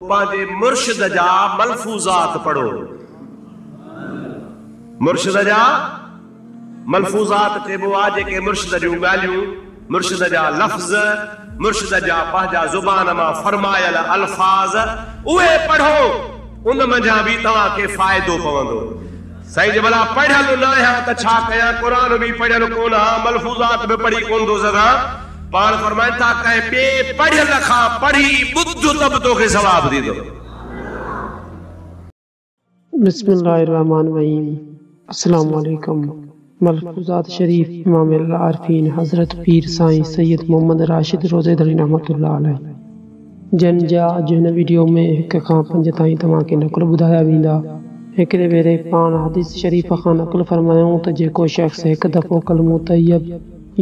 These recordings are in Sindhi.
پنهنجي مرشد جا ملفوظات پڙهو. مرشد جا ملفوظات چئبو آ جيڪي مرشد جون ڳالهيون، مرشد جا لفظ، مرشد جا پنهنجا زبان مان فرمايل الفاظ اهي پڙهو ان منجهان به توهان کي فائدو پوندو. سائين جي ڀلا پڙهيل نه آهيان ته ڇا ڪيان قرآن به پڙهيل ڪونه ها ملفوظات به پڙهي ڪونه ٿو سگهان پاڻ فرمائن ٿا ڪنهن ٻئي پڙهيل کان پڙهي ٻڌ ته به توکي ثواب ٿيندو. بسم الله الرحمٰن الرحيم السلام عليڪم ملفوظات شريف امام العارفين حضرت پير سائين سيد محمد راشد روضي ڌڻي رحمة الله عليه. جن جا اڄ هن ويڊيو ۾ هڪ کان پنج تائين توهان کي نقل ٻڌايا ويندا. هڪڙي ڀيري پاڻ حديث شريف کان نقل فرمايائون ته جيڪو شخص هڪ دفعو ڪلمو طيب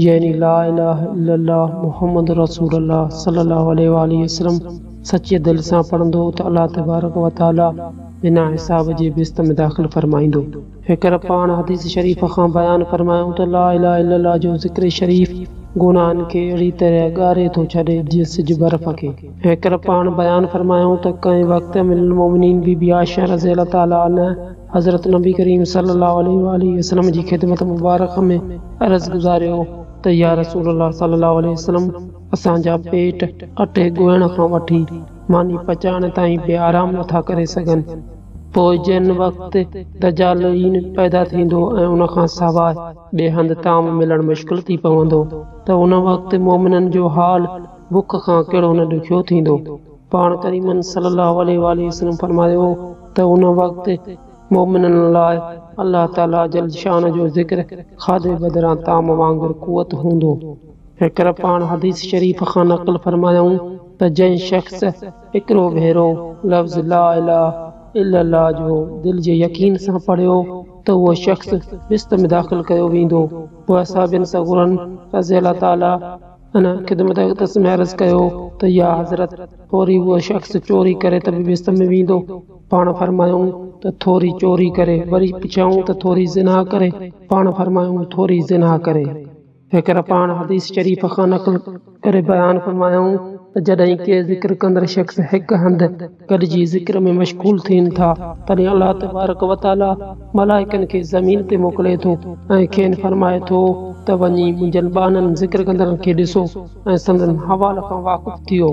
يعني لا اله الا الله محمد رسول الله صلي الله عليه واٰله وسلم سچيء دل سان پڙهندو ته الله تبارڪ وتعاليٰ بنا حساب جي بهشت ۾ داخل فرمائيندو. فڪر پاڻ حديث شريف کان بيان فرمايائون ته لا اله الا الله جو ذڪر شريف گناهن کي اهڙي طرح ڳاري ٿو ڇڏي جيئن سج برف کي. فڪر پاڻ بيان فرمايائون ته ڪنهن وقت ام المومنين بي بي عائشه رضي الله تعالٰي عنها حضرت نبي ڪريم صلي الله عليه واٰله وسلم جي خدمت مبارڪه ۾ عرض گذاريو ته يا رسول الله صلي الله عليه وسلم اسان جا پيٽ اٽي ڳوهڻ کان وٺي ماني پچائڻ تائين به آرام نٿا ڪري سگهن. پوء جنھن وقت دجالعين پيدا ٿيندو ۽ ان کان سواء ٻئي هنڌ طعام ملڻ مشڪل ٿي پوندو ته ان وقت مؤمنن جو حال بک کان ڪهڙو نه ڏکيو ٿيندو. پاڻ ڪريم صلّي الله عليه واٰله وسلّم فرمايو هو ته ان وقت مؤمنن لاء الله تعالي جل شانه جو ذڪر کاڌي بدران طعام وانگر قوت هوندو. هڪر پاڻ حديث شريف کان نقل فرمايائون ته جنھن شخص هڪڙو ڀيرو لفظ لا اله الا الله جو دل جي يقين سان پڙهيو ته اهو شخص بهشت ۾ داخل ڪيو ويندو پوء اصحابين صغورن رضي الله تعاليٰ عنه خدمت اقدس ۾ عرض ڪيو ته يا حضرت ٿوري اهو شخص چوري ڪري ته به بهشت ۾ ويندو پاڻ فرمايائون ته ٿوري چوري ڪري وري پڇيائون ته ٿوري زنا ڪري پاڻ فرمايائون ٿوري زنا ڪري. فقير پاڻ حديث شريف کان نقل ڪري بيان فرمايائون ته جڏهن ڪي ذڪر ڪندڙ شخص هڪ هنڌ گڏجي ذڪر ۾ مشغول ٿين ٿا تڏهن الله تبارڪ وتعاليٰ ملائڪن کي زمين تي موڪلي ٿو ۽ کين فرمائي ٿو ته وڃي منهنجن ٻانهن ذڪر ڪندڙن کي ڏسو ۽ سندن حوال کان واقف ٿيو.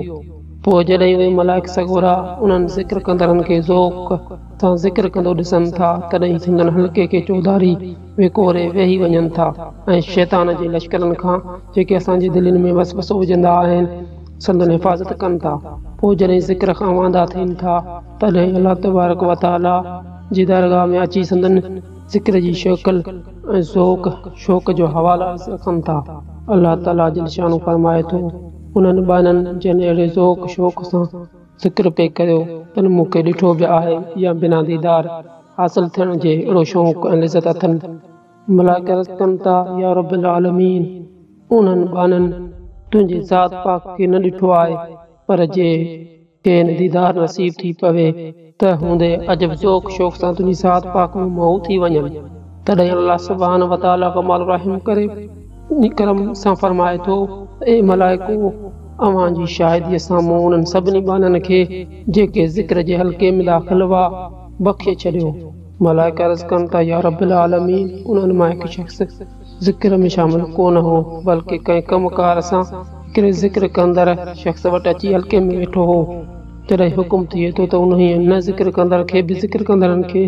پوء جڏهن اهي ملائڪ سڳورا انهن ذڪر ڪندڙن کي ذوق سان ذڪر ڪندو ڏسن ٿا تڏهن سندن حلقي کي چوڌاري وڪوري ويهي وڃن ٿا ۽ شيطان جي لشڪرن کان جيڪي اسان جي دلين ۾ وسوسو وجهندا آهن سندن حفاظت ڪن ٿا پوء جڏهن ذڪر کان واندا ٿين ٿا تڏهن الله تبارڪ وتعالي جي درگاهه ۾ اچي سندن ذڪر جي شڪل ۽ ذوق شوق جو حوالو عرض ڪن ٿا الله تعالي جل شانه فرمائي ٿو انهن ٻانهن جن اهڙي ذوق شوق سان فڪر پئي ڪريو تن مون کي ڏٺو به آهي يا بنا ديدار حاصل ٿيڻ جي اهڙو شوق ۽ لذت اٿن. ملائڪ عرض ڪن ٿا، يا رب العالمين! اونهن ٻانهن تنهنجي ذات پاڪ کي نه ڏٺو آهي، پر جي کين ديدار نصيب ٿي پوي ته هوندي عجب ذوق شوق سان تنهنجي ذات پاڪ ۾ مئو ٿي وڃن. تڏهن الله سبحانه وتعاليٰ ڪمال الرحم ڪري. ڪرم سان فرمائي ٿو ته اي ملائڪو! اوهان جي شاهديء سان مون انهن سڀني ٻانهن کي، جيڪي ذڪر جي حلقي ۾ داخل هئا، بخشي ڇڏيو. ملائڪ عرض ڪن ٿا، يا رب العالمين! انهن مان هڪ شخص ذڪر ۾ شامل ڪو نه هو، بلڪه ڪنهن ڪم ڪار سان هڪڙي ذڪر ڪندڙ شخص وٽ اچي حلقي ۾ ويٺو هو. جڏهن حڪم ٿئي ٿو ته انهيء نه ذڪر ڪندڙ کي به ذڪر ڪندڙن کي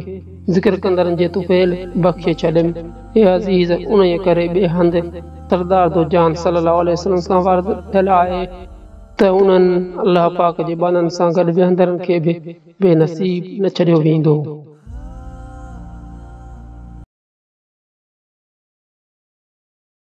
ذڪر ڪندڙن جي طفيل بخشي ڇڏين. اي عزيز! انهيء ڪري ٻئي هنڌ سردار دو جهان صلّي اللّٰه عليه وسلّم سان وارد ٿيل آهي ته انهن الله پاڪ جي بانن سان گڏ ويهندڙن کي به بي نصيب نه ڇڏيو ويندو.